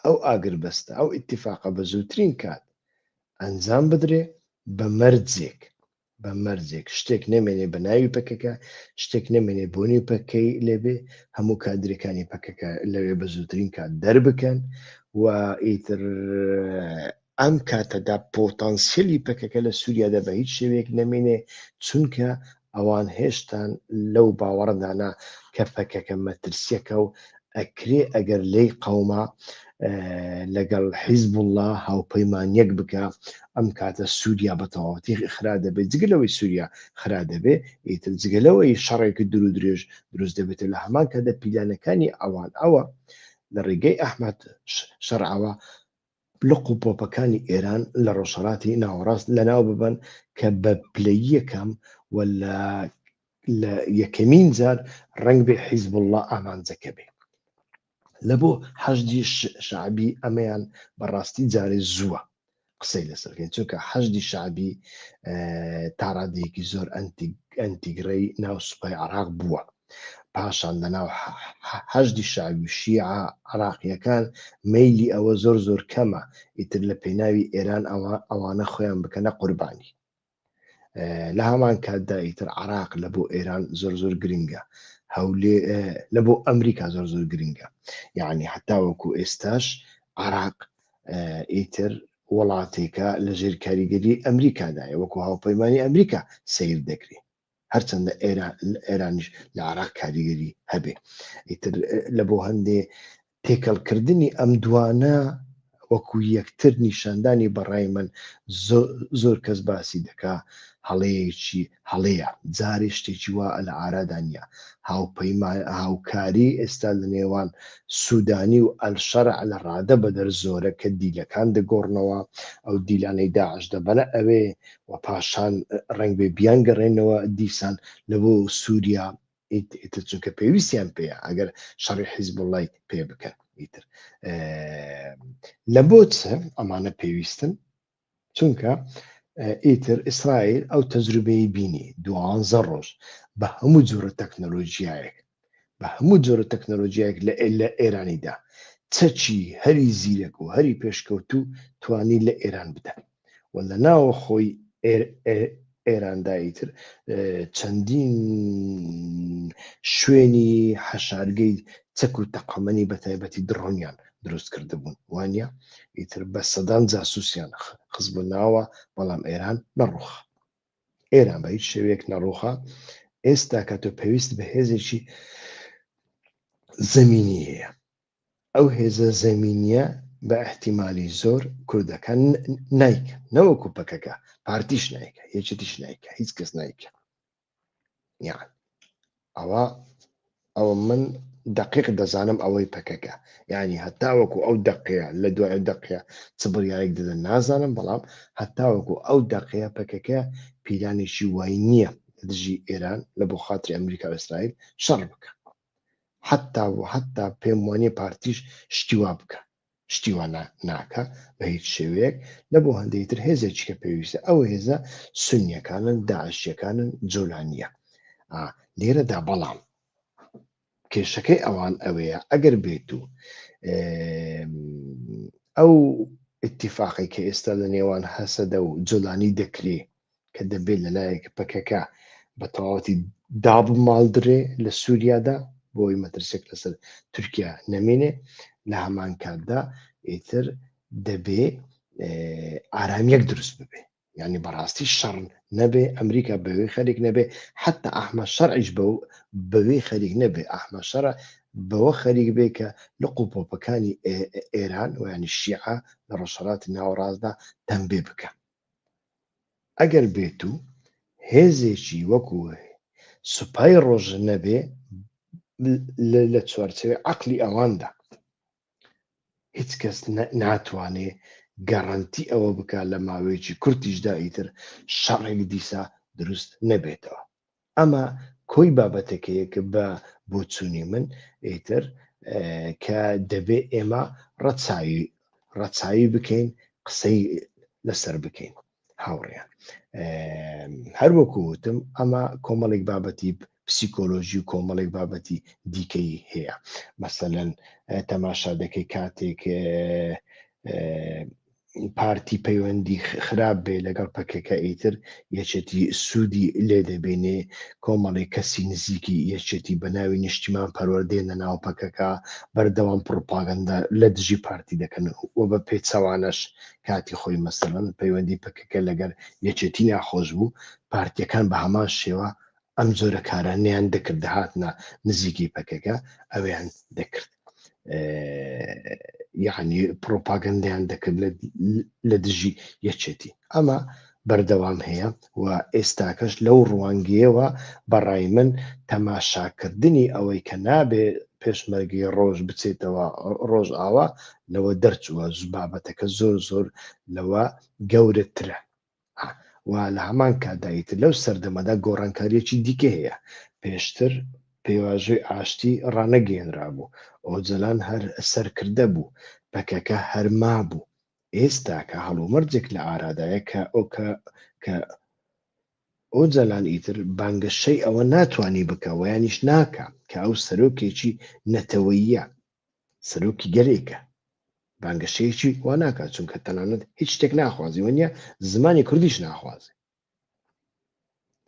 ئەو ئاگربەستە ئەو ئیتیفاقە بە زووترین کات ئەنجام بدرێ بە مەرجێک بە مەرجێک شتێک نەمێنێ بە ناوی پەکەکە شتێک نەمێنێ بۆنی پەکەی لێبێ هەموو کادرەکانی پەکەکە لەوێ بە زووترین کات دەربکەن و ئیتر ئەم کاتەدا پۆتانسیلی پەکەکە لە سووریادا بە هیچ شێوەیەک نەمێنێ چونکە ئەوان هێشتان لەو باوەڕدانا کە پەکەکە مەترسیەکە و ئەکرێ ئەگەر لەی قەوما لەگەڵ حیزبوڵا هاوپەیمانیەک بکا ئەم کاتە سووریا بە تەواوەتی خرا دەبێت جگە لەوەی سووریا خرا دەبێ ئیتر جگە لەوەی شەڕێکی دوور و درێژ دروست دەبێتە لە هەمان کاتدا پیلانەکانی ئەوان ئەوە لە ڕێگەی ئەحمەد شەرعەوە لق و پۆپەکانی ئێران لە ڕۆژهەڵاتی ناوەڕاست لەناو ببەن کە بە پلەی یەکەم و لە لە یەکەمین جار ڕەنگ بێ حیزبوڵڵا ئامانجەکە بێ لە بۆ حەشدی شعبی ئەمەیان بەڕاستی جارێ زووە قسەی لەسەرکەین چونکە حەشدی شعبی تاڕادەیەکی زۆر ئەنتیگرەی ناو سوپای عراق بووە پاشان لەناو حەشدی شەعبی و شیعە عراقییەکان مەیلی ئەوە زۆر زۆر کەمە ئیتر لە پێناوی ئێران ئەوانە خۆیان بکەنە قوربانی لە هەمان کاتدا ئیتر عراق لە بۆ ئێران زۆر زۆر گرنگە هەولێ لە بۆ ئەمریکا زۆر زۆر گرنگە یعنی حتاوەکو ئێستاش عراق ئیتر وڵاتێکە لە ژێر کاریگەری ئەمریکادایە وەکو هاوپەیمانانی ئەمریکا سیر دەکرێت هەرچەندە ئێرانیش لە عراق کاریگەری هەبێ ئیتر لە بۆ هەندێ تێکەڵکردنی ئەم دوانە وەکو یەکتر نیشاندانی بەڕای من زۆر کەس باسی دەکا هەڵەیەکی هەڵەیە جارێ شتێکی وا لە ئارادا نیە هاوپەیمان هاوکاری ئێستا لە نێوان سوودانی و ئەلشەر لە ڕادە بەدەر زۆرە کە دیلەکان دەگۆڕنەوە ئەو دیلانەی داعش دەبەنە ئەوێ و پاشان ڕەنگبێ بیانگەڕێنەوە دیسان لە بۆ سووریا ئیتر چونکە پێویستیان پێیە ئەگەر شەڕی حیزبوڵڵای پێ بکەن ئیتر لە بۆ چ ئەمانە پێویستن چونکە ئیتر ئیسرائیل ئەو تەجروبەی بینی دوانزە ڕۆژ بە هەموو جۆرە تەکنەلۆژیایەک بە هەموو جۆرە تەکنەلۆجیایەک لە لە ئێرانیدا چەکی هەری زیرەک و هەری پێشکەوتوو توانی لە ئێران بدا و لە ناوە خۆی ئێراندا ئیتر چەندین شوێنی حەشارگەی چەک و تەقەمەنی بە تایبەتی دڕۆنیان دروست کرده بوون وانە ئیتر بە سەدان جاسوسیان خزبوو ناوە بەڵام ئێران نەڕوخ ئێران بە هیچ شێوەیەک نەڕووخا ئێستا کە تۆ پێویست بە هێزێکی زەمینی هەیە ئەو هێزە زەمینیە بە احتیممالی زۆر کوردەکان نیکە نەوەکو پەکەکە پارتیش نیکە یەکێتیش نیکە هیچ کەس نیکە یان ئەوە ئەوە من دەقیق دەزانم ئەوەی پەکەکە یعنی هەتاوەکو ئەو دەقەیە لە دوای دەقەیە چ بڕیارێک دەدەن نازانم بەڵام هەتاوەکو ئەو دەقەیە پەکەکە پیلانێکی وای نییە لە دژی ئێران لە بۆ خاتری ئەمریکا و ئیسرائیل شەڕ بکە حتا و حتا پێم وانیە پارتیش شتی وا بکە شتی وا ناکا بە هیچ شێوەیەک، نە بۆ هەندێکی تر هێزێکی کە پێویستە، ئەو هێزە سونیەکانن، داعشیەکانن، جۆلانیە. ئا لێرە دا بەڵام کێشەکەی ئەوان ئەوەیە ئەگەر بێت و ئەو اتفاقی کە ئێستا لە نێوان هەسەدە و جۆلانی دەکرێ کە دەبێت لەلایەک پەکەکە بە تەواوەتی دابماڵدرێ لە سووریادا بۆی مەترسێک لەسەر تورکیا نەمێنێ لە هەمان کاتدا ئیتر دەبێ ئارامیەک دروست ببێ ینی بەڕاستی شەڕ نەبێ ئەمریکا بەوێ خەرێک نەبێ حتا ئەحمە شەرعیش بە بەوێ خەریک نەبێ ئەحمە شەرە بەوە خەریک بێ کە لە قوپۆپەکانی ئێران ویانی شیعە لە ڕۆژهڵاتی ناوەڕاستدا تەمبێ بکە ئەگەر بێت و هێزێکی وەکو سوپای ڕۆژ نەبێ لە چوارچێوەی عەقلی ئەواندا هیچ کەس ناتوانێ گەڕەنتی ئەوە بکە لە ماوەیەکی کورتیشدا ئیتر شەڕێک دیسا دروست نەبێتەوە ئەمە کۆی بابەتەکەیە کە بە بۆچوونی من ئیتر کە دەبێ ئێمە ڕەچاوی ڕەچاوی بکەین قسەی لەسەر بکەین هاوڕێیان هەروەکو وتم ئەمە کۆمەڵێک بابەتی پسیکۆلۆژی و کۆمەڵێک بابەتی دیکەی هەیە مەسەەن تەماشا دەکەی کاتێک پارتی پەیوەندی خراپ بێ لەگەڵ پەکەکە ئیتر یەچێتی سوودی لێ دەبینێ کۆمەڵی کەسی نزیکی یەچێتی بە ناوی نیشتیمان پەروەردێنە ناو پەکەکە بەردەوام پڕپاگەندە لە دژی پارتی دەکەن و بە پێچەوانەش کاتی خۆی مەسەن پەیوەندی پەکەکە لەگەر یەچێتی ناخۆش بوو پارتیەکان بە هەمان شێوە ئەم جۆرە کارانیان دەکرد دەهاتنا نزیکی پەکەکە ئەویان دەکرد یعنی پرۆپاگەندیان دەکرد لە دژی یەکێتی ئەمە بەردەوام هەیە و ئێستاکەش لەو ڕوانگیەوە بەڕای من تەماشاکردنی ئەوەی کە نابێ پێشمەرگی ڕۆژ بچێتەوە ڕۆژ ئاوا لەوە دەرچووە بابەتەکە زۆر زۆر لەوە گەورەترە و لە هەمان کاتدا ئیتر لەو سەردەمەدا گۆڕانکارییەکی دیکەی هەیە، پێشتر پێواژۆی ئاشتی ڕانەگەیەنرابوو، ئۆجەلان هەر سەرکردە بوو، پەکەکە هەر مابوو، ئێستاکە هەڵومەرجێک لە ئارادایە کە کە ئۆجەلان ئیتر بانگەشەی ئەوە ناتوانی بکا وەیانیش ناکا کە ئەو سەرۆکێکی نەتەوەییە، سەرۆکی گەلێکە بانگەشەیەکی وا ناکات چونکە تەنانەت هیچ شتێک ناخوازی وە نیە زمانی کوردیش ناخوازێ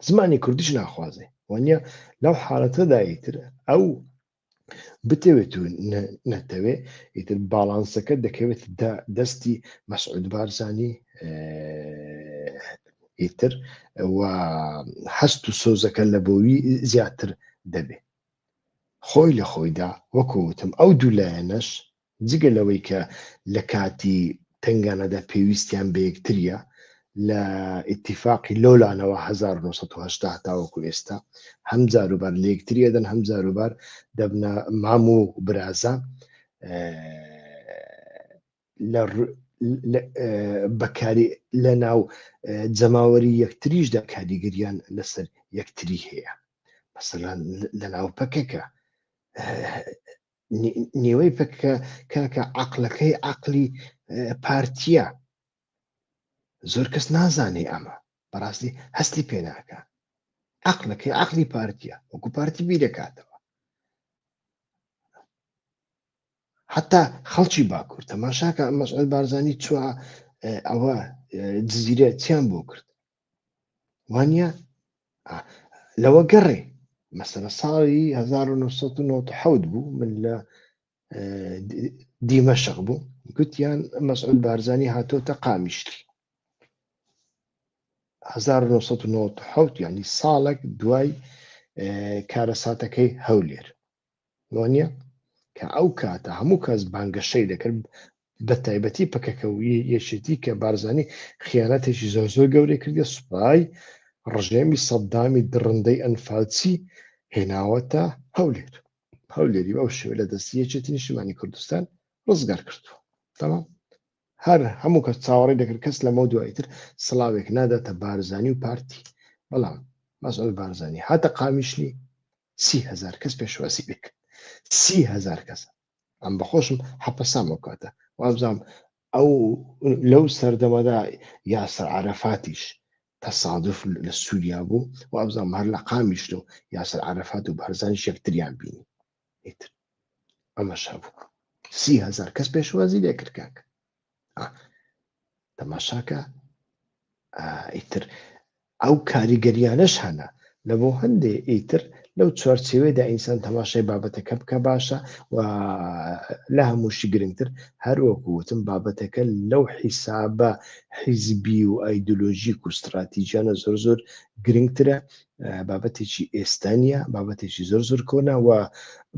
زمانی کوردیش ناخوازێ وە نیە لەو حالەتەدایی تر ئەو بتەوێت و نەتەوێ ئیتر باڵانسەکە دەکەوێت دەستی مەسعود بارزانی ئیتر و هەست و سۆزەکە لە بۆوی زیاتر دەبێت خۆی لە خۆیدا وەکو وتم ئەو دوو لایەنەش جگە لەوەی کە لە کاتی تەنگانەدا پێویستیان بە یەکتریە لە ئیتیفاقی لۆلانەوە هەزار و نۆ سەد و هەشتا تاوەکو ئێستا هەم جاروبار لە یەکتری ئەدەن هەم جاروبار دەبنە مام و برازا بەکاری لە ناو جەماوەری یەکتریشدا کاریگەریان لەسەر یەکتری هەیە مەسەلان لە ناو پەکەکە نێوەی پەکە کاکە عقلەکەی عقلی پارتیە زۆر کەس نازانێ ئەمە بەڕاستی هەستی پێ ناکە عقلەکەی عقلی پارتیە وەکو پارتی بیرەکاتەوە حتا خەڵکی باکوور تەماشاکە ئەم مەسعود بارزانانی چوە ئەوە جززیرە چیان بۆ کرد وانە لەوە گەڕێ مەسەرە ساڵی 1990 بوو من لە دیمەشق بوو گوتیان مەسعود بارزانانی هاتۆتە قامیشتی 1990 ینی ساڵک دوای کارەساتەکەی هەولێر وانیە کە ئەو کاتە هەموو کەس بانگەشەی دەکرد بە تایبەتی پەکەکە و یەکێتی کە بارزانی خیانەتێکی زۆر زۆر گەورەی کردە سوپای ڕژێمی سەددامی دڕندەی ئەنفالچی هێناوەتە هەولێر هەولێری بەو شێوە لە دەستی یەکێتی نیشتمانی کوردستان ڕزگار کردووە تەمام هەر هەموو کەس چاوەڕی دەکرد کەس لەمە دوایی تر سڵاوێک ناداتە بارزانی و پارتی بەڵام مەسئول بارزانی هاتە قامیشلی سی هەزار کەس پێشوازی لێ کرد سی هەزار کەس ئەم بەخۆشم حەپەسام ئەو کاتە وابزانم ئەو لەو سەردەمەدا یاسر عرفاتیش تصادف لە سووریا بوو وابزانم هەر لە قامیشت و یاسر عرفات و بەرزانیش یەکتریان بینی ئیتر ئەمەش هەبوو سی هەزار کەس پێشوازی لێ کرد کاک تەماشاکە ئیتر ئەو کاریگەریانەش هەنە لە بۆ هەندێ ئیتر لەو چوارچێوێدا ئینسان تەماشای بابەتەکە بکە باشە و لە هەمووشی گرنگتر هەروەکوتم بابەتەکە لەو حیسابە حیزبی و ئایدۆلۆژیک و استراتیژیانە زۆر زۆر گرنگترە بابەتێکی ئێستا نیە بابەتێکی زۆر زۆر کۆنا و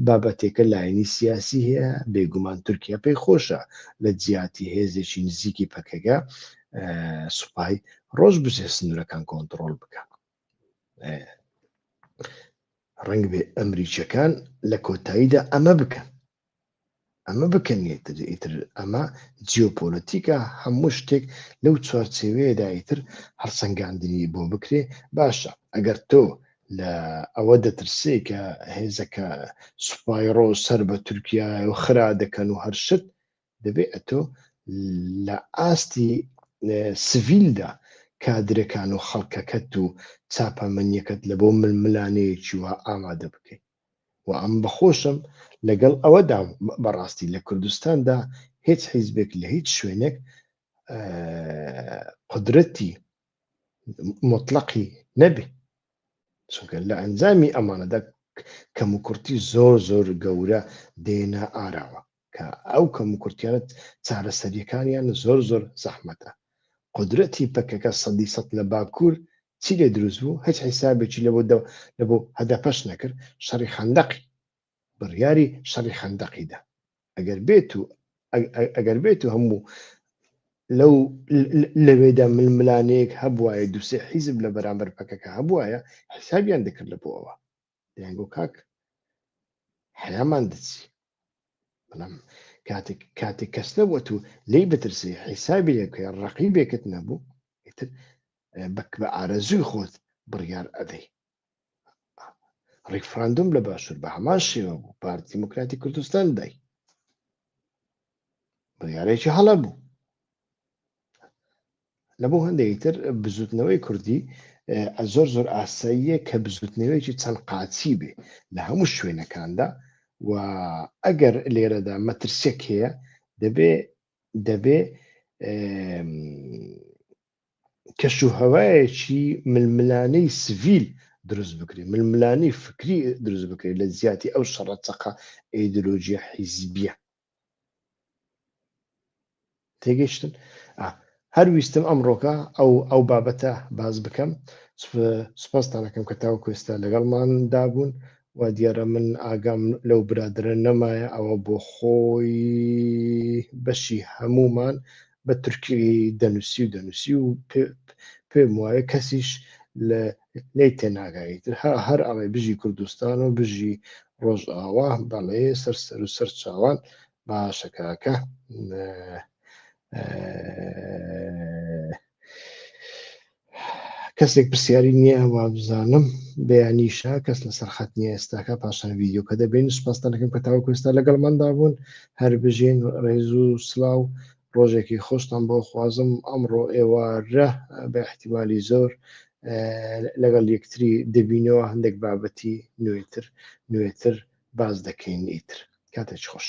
بابەتێکە لایەنی سیاسی هەیە بێگومان تورکیا پێی خۆشە لە جیاتی هێزێکی نزیکی پەکەگە سوپای ڕۆژ بچێ سنوورەکان کۆنتترۆل بکە ڕنگ بێ ئەمریکیەکان لە کۆتاییدا ئەمە بکەن ئەمە بکەن یەکتر ئیتر ئەمە جیۆپۆلەتیکە هەموو شتێک لەو چوارچێوەیەدا ئیتر هەڵسەنگاندنی بۆ بکرێ باشە ئەگەر تۆ لە ئەوە دەترسێ کە هێزەکە سوپایڕۆ سەر بە تورکیا و خرا دەکەن و هەر شت دەبێ ئەتۆ لە ئاستی سڤیلدا کادرەکان و خەڵکەکەت و چاپەمەنیەکەت لە بۆ ململانەیەکی وە ئامادە بکەیت و ئەم بە خۆشم لەگەڵ ئەوەدام بەڕاستی لە کوردستاندا هێچ حیزبێک لە هیچ شوێنێک قدرەتی مطلقی نەبێ چونکە لە ئەنجامی ئەمانەدا کەم و کوڕتی زۆر زۆر گەورە دێنە ئاراوە کە ئەو کەم و کورتیانە چارەسەریەکانیان زۆر زۆر زەحمەتە قودرەتی پەکەکە سەدی سەد لە باکوور چی لێ دروست بوو هیچ حیسابێکی لەبۆ لەبۆ هەدەپەش نەکرد شەڕی خەندەقی بڕیاری شەڕی خەندەقیدا ئەگەر بێت و ئەگەر بێت و هەموو لەو لەوێدا ململانەیەک هەبواە دوسێ حیزب لە بەرامبەر پەکەکە هەبواە حسابیان دەکرد لە بۆەوە دەیانگۆ کاک حەیامان دەچی بەڵام کاتێک کاتێک کەس نەبووە و لی بترسی حیسابی لێکە ڕقی بێکت نەبوو ئیتر بەک بە ئارەزووی خۆت بڕیار ئەدەی ڕیفراندوم لە باشوور بە هەمان شێوە بوو پارتی دیموکراتی کوردستان دای بڕارێکی هەڵە بوو لەبۆ هەندێکی تر بزوتنەوەی کوردی زۆر زۆر ئاساییە کە بزوتنەوەیەکی چەند قاچی بێ لە هەموو شوێنەکاندا و ئەگەر لێرەدا مەترسێک هەیە دەبێ دەبێ کەش و هەوایەکی ململانەی سڤیل دروست بکرێت ململانەی فکری دروست بکرێت لە زیاتی ئەو شەڕەتەقە ئەیدۆلۆژیە حیزبیە تێگەیشتن هەر ویستم ئەمڕۆکە ئەو ئەو بابەتە باز بکەم سپاستانەکەم کە تاو کوێستا لەگەڵماندا بوون و دیارە من ئاگام لەو برادرە نەمایە ئەوە بۆ خۆی بەشی هەمومان بە تورکی دەنووسی و دەنووسی و پێم وایە کەسیش لە لی تێناگایی تر هەر ئەڵێ بژی کوردستان و بژی ڕۆژئاوا بەڵێ سەر سەر و سەر چاوان باشەکەکە کەسێک پرسیاری نییە وابزانم بەیانیشە کەس لەسەر خەت نیە ئێستاکە پاشان ویددیو کە دەبین سپاستانەکەم کە تاوە کوێستا لەگەڵ مندا بوون هەر بژین ڕێزو سلااو ڕۆژێکی خۆشتان بۆ خوازم ئەمڕۆ ئێوارە بە احتیمالی زۆر لەگەڵ یەکتری دەبینەوە هەندێک بابەتی نوێتر نوێتر باز دەکەین ئیتر کاتێک خۆش.